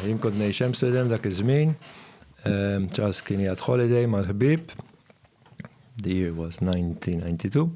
Jien kont ngħix Amsterdam dak iż-żmien. Charles kien jgħad holiday mal-ħbib. The year was 1992.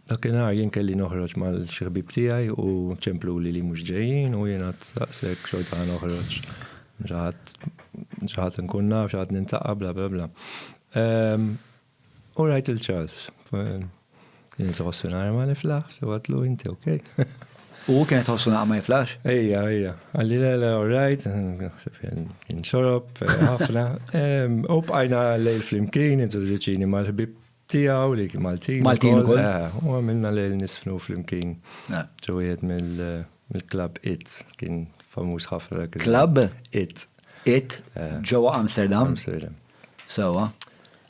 Dak inhar jien kelli noħroġ mal xi ħbib tiegħi u ċemplu li li mhux ġejjin u jien għad saqsek xorta ħa noħroġ. Xaħat nkun naf, xaħat nintaqa bla bla bla. U rajt il-Charles. Jinti ħossu nara ma niflaħx, u għatlu inti, ok? U kienet ħossu nara ma niflaħx? Ejja, ejja. Għalli l-għala, all right, kien xorob, ħafna. U bqajna lejl flimkien, introduċini mal-ħbib tijaw li Maltin. Maltin u kol. Eh, u għamilna lejl nisfnu flimkien. Eh. Ġuħiet mill-klab It, kien famus ħafna dak. Klab? It. It, eh. ġowa Amsterdam. Amsterdam. Sewwa.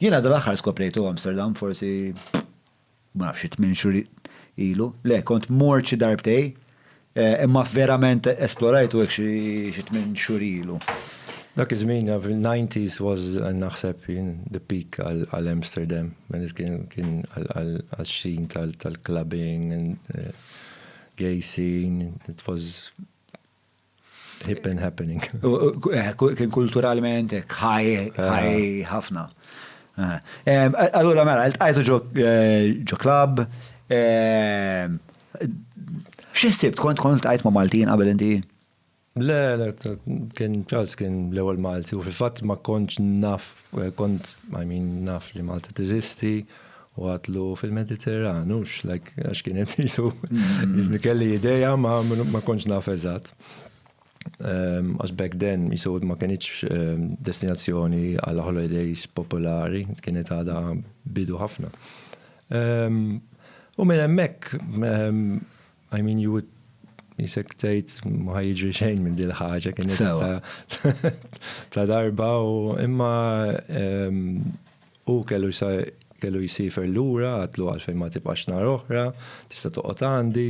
Jiena dal-aħħar skoprejtu Amsterdam forsi ma nafx xi tmien xhur ilu. Le, kont mort xi darbtej, imma verament esplorajtu hekk xi tmien xhur ilu. Dak iż-żmien, fil-90s was naħseb jien the peak għal Amsterdam. Kien għax-xien tal-clubbing, gay scene, it was Hippen happening. Eh, kien kulturalment ħaj, ħaj eh. ħafna. Allura mela, il-tqajtu ġo eh, klab. X'ħsib kont kont tqajt ma' Maltin qabel inti? Le, le, kien ċas kien l-ewwel Malti u fil-fatt ma kontx naf, kont, I mean, naf li Malta teżisti. u għatlu fil-Mediterran, ux, like, għax kienet jisu, jizni kelli ideja ma, ma konċ naf eżat. Ehm, għax back then, jisu ma kienieċ ehm, destinazzjoni għal holidays popolari, kienet għada bidu ħafna. Ehm, u minn emmek, I mean, you would jisek tejt ma jiġri xejn minn dil ħaġa kienet ta' darba u imma Hu kellu jsiefer lura, għadtlu għalfejn ma tibqax nhar oħra, tista' toqgħod għandi.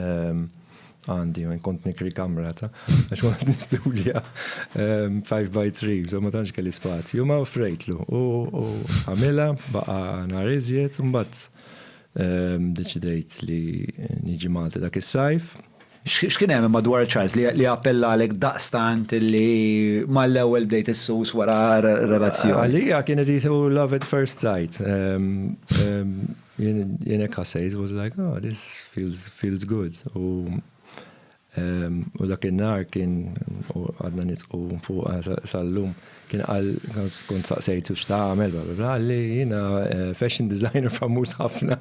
Ehm, għandi, ma kont nikri kamra ta' għax kont nistudja 5 ehm, by 3, so ma tantx kelli spazju, ma offrejtlu. U għamilha baqa' nhar iżjed, mbagħad ehm, deċidejt li niġi Malta dak is-sajf. X'kien hemm imma dwar Charles li appellalek daqstant li mal-ewwel bdejt issus wara relazzjoni? Għalija kienet jisu love at first sight. Jien hekk ħassejt, was like, oh, this feels, feels good. U dak in-nhar kien għadna nitqu fuq sal-lum, kien qal kont saqsejtu x'tagħmel, bla bla bla, li jiena fashion designer famuż ħafna.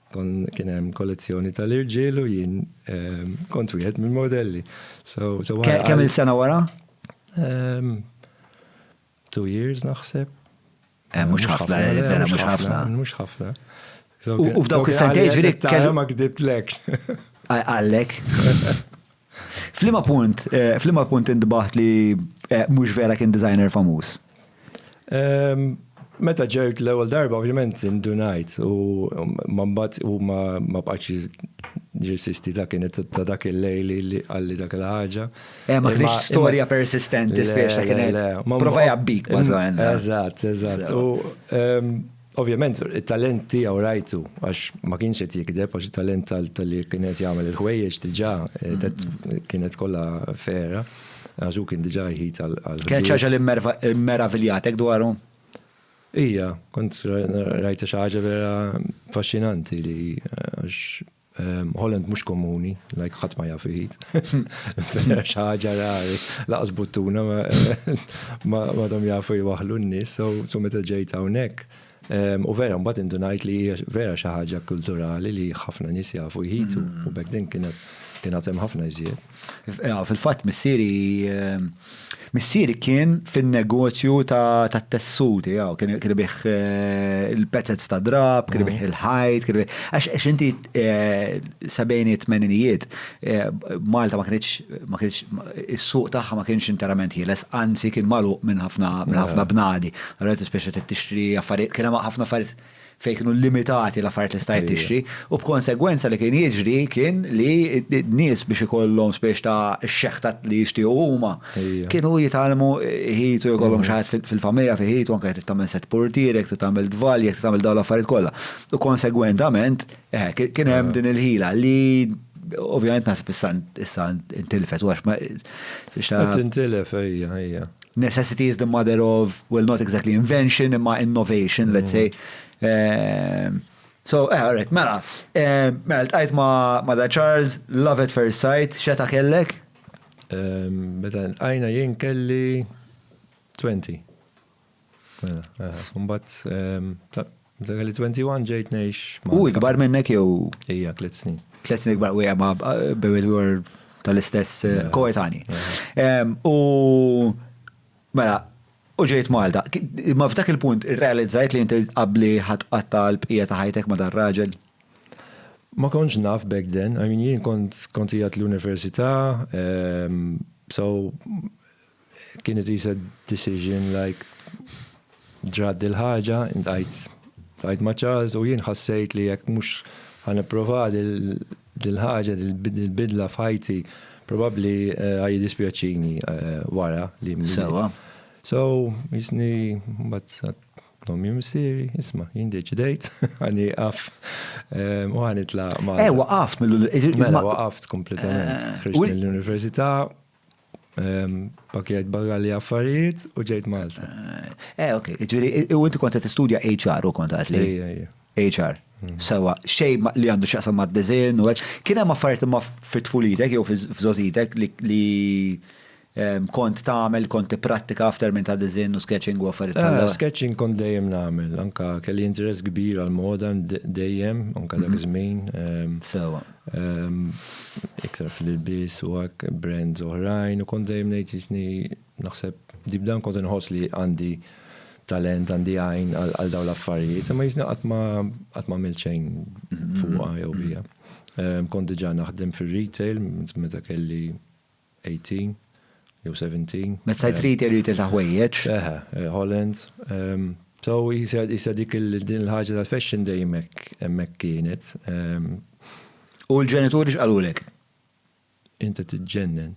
Kon kien hemm kollezzjoni tal-irġiel u jien ehm, kont wieħed mill-modelli. So, so Kemm il-sena wara? Ehm, two years naħseb. Eh, mhux ħafna, eh, eh, vera mhux ħafna. Mhux ħafna. U f'dawk is-sentejn ġifieri kellu ma kdibt lek. Għallek. F'liema punt, f'liema punt intbaħt li mhux vera kien designer famuż? Meta ġejt l-ewwel darba ovvjament indunajt u ma mbagħad u ma ma bqax jirsisti ta' kienet ta' dak il-lejl li qalli dak il-ħaġa. Eh, ma kienx storja persistenti spiex ta' kienet. Prova jabbik, ma' Eżatt, eżatt. Ovvjament it-talent tiegħu rajtu għax ma kienx qed jikdeb għax it-talent tal-li kien qed jagħmel il-ħwejjeġ diġà kienet kollha fera għax hu kien diġà jħid għal. Kienet xi ħaġa li mmeraviljatek dwaru? Ija, kont rajta xi ħaġa vera affaxxinanti li għax Ehm, Holland mhux komuni, like ħadd ma jaf iħid. Xaġa rari, laqas buttuna ma dom jafu jwaħlu n-nies, so meta ġejt hawnhekk. Ehm, u vera mbagħad indunajt li hija vera xi ħaġa kulturali li ħafna nies jafu jħitu mm. u bekk din kienet kienet hemm ħafna iżjed. Fil-fatt missieri missieri kien fin-negozju ta' tessut, jaw, kien bih eh, il-pezzez ta' drab, kien bih mm. il-ħajt, kien bih. Għax inti eh, sebejni tmeninijiet, eh, Malta ma kienx ma kienx is-suq tagħha ma kienx interament ħieles, anzi kien magħluq minn ħafna minn ħafna bnadi. Għalet speċi tixtri affarijiet, kien hemm ħafna affarijiet fejn kienu limitati l-affarijiet li stajt tixtri, u b'konsegwenza li kien jiġri kien li n-nies biex ikollhom spiex ta' xeħta li jixtiequ huma kienu jitalmu ħitu jkollhom xi ħadd fil-familja fi ħitu anke trid tagħmel set portierek, trid tagħmel dvalji, trid tagħmel dawn l-affarijiet kollha. U konsegwentament Eh, kien hemm din il-ħila li ovvjament nasib issa intilfet, għax ma. Intilef, ejja, ejja. Necessity is the mother of, well, not exactly invention, imma innovation, let's say. Mm. Ehm, so, eh, all right, mela, ehm, mela, tqajt ma da Charles, love at first sight, xeta kellek? Ehm, meta għajna jien kelli 20. Mela, eh, mbagħad ehm, dak li 21 ġejt ngħix. U ikbar minnek jew? Ija, tliet snin. Tliet snin ikbar u hija ma' Buried World tal-istess eh, koetani. Ehm, u mela, u ġejt Malta. Ma f'dak il-punt realizzajt li inti qabli ħatqatta l-bqija ta' ħajtek ma' dar raġel. Ma konċ naf back then, I mean jien kont kontijat l-università, ehm, so Kienet isa decision like ġrat dil-ħaġa, intajt tajt ma' Charles u jien ħassejt li jekk mhux ħanipprova dil-ħaġa dil-bidla f'ħajti probabbli eh, ħaj dispjaċini eh, wara li Sewa. So, jisni mbagħad Tom jimsiri, isma, jindiċ dejt, għani għaf, eh, u għani tla ma. Eh, waqaft mill-università. Mela, waqaft kompletament. Ħriġt mill-università, Pakjet barra li affarijiet u ġejt Malta. Eh, ok, ġiri, u inti konta t-studja HR u konta għatli? HR. Hmm. Sawa, xej li għandu xaqsa ma' d-dizin u għax, kiena ma' affarijiet ma' fit-tfulitek jew f'zozitek li kont tagħmel kont tipprattika f'termin ta' dizin u sketching u affarijiet tal eh, Sketching kont dejjem nagħmel, anka kelli interess kbir għal moda dejjem, anka dak mhm. iż-żmien. Sawa. Iktar fil-ilbies u hekk brands oħrajn u kont dejjem ngħid isni naħseb deep down kont inħoss li għandi talent, għandi għajn għal dawn l-affarijiet, imma jisna qatt ma qatt ma għamilt xejn fuqha jew bija. Kont diġà naħdem fir-retail meta kelli 18 jew 17. Meta jtrid irid disa' ħwejjeġ. Eħe, Holland. So jisa jisa dik il din il-ħaġa tal-fashion dejjem hekk hemmhekk kienet. U l-ġenituri x'qalulek? Int qed tiġġennen.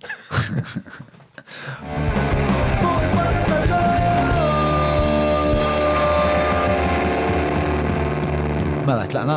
Mela tlaqna?